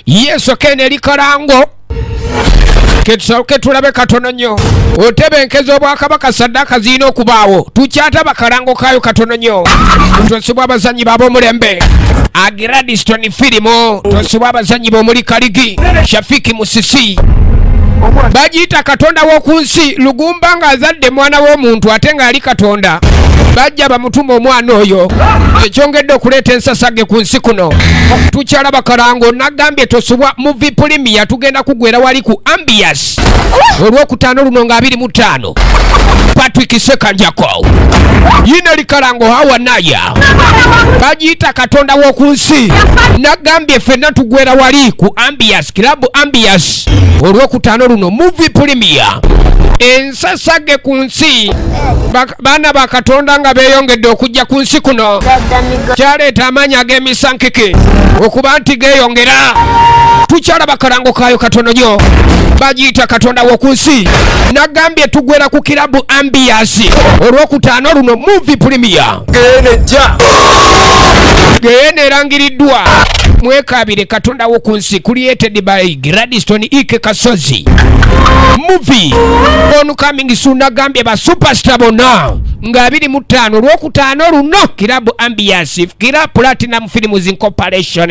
yesu kenda eri kalango ketusooke tulabe katono nnyo otebenkeza obwakabaka saddaaka zirina okubaawo tukyataba kalango kaayo katono nnyo tosibwa abazannyi baab'omulembe agradiston firimu tosibwa abazannyi b'omuli kaligi shafiki musisi bagiyita katonda w'oku nsi lugu okumba nga azadde mwana w'omuntu ate ng'ali katonda bajja bamutuma omwana oyo ekyongedde okuleeta ensasage ku nsi kuno tukyala bakalango nagambye tosubwa mu vipulimiya tugenda kugwera wali ku ambias olwokutaano luno nga abiri mu ttaano patrick sekanjako yina likalango hawa naya bagiyita katonda w'oku nsi nagambye ffenna tugwera wali ku ambias kilabu ambias olwokutaano luno muvi pulimiya ensasage ku nsi baana ba katonda nga beeyongedde okujja ku nsi kuno kyaleeta amaanyi ag'emisankike okuba nti geeyongera tukyala bakalango kaayo katono nyo bagiyita katonda w'oku nsi nagambye tugwera ku kirabu ambiyasi olwokutaano luno muvi pulimiya geyeena erangiriddwa mwekaabire katonda w'oku It's created by Gladstone Ike Kasozi. Movie on coming soon agambye ba superstar bonna nga abiri mu ttaano olwokutaano luno kirabu ambiance kira platinum films incorporation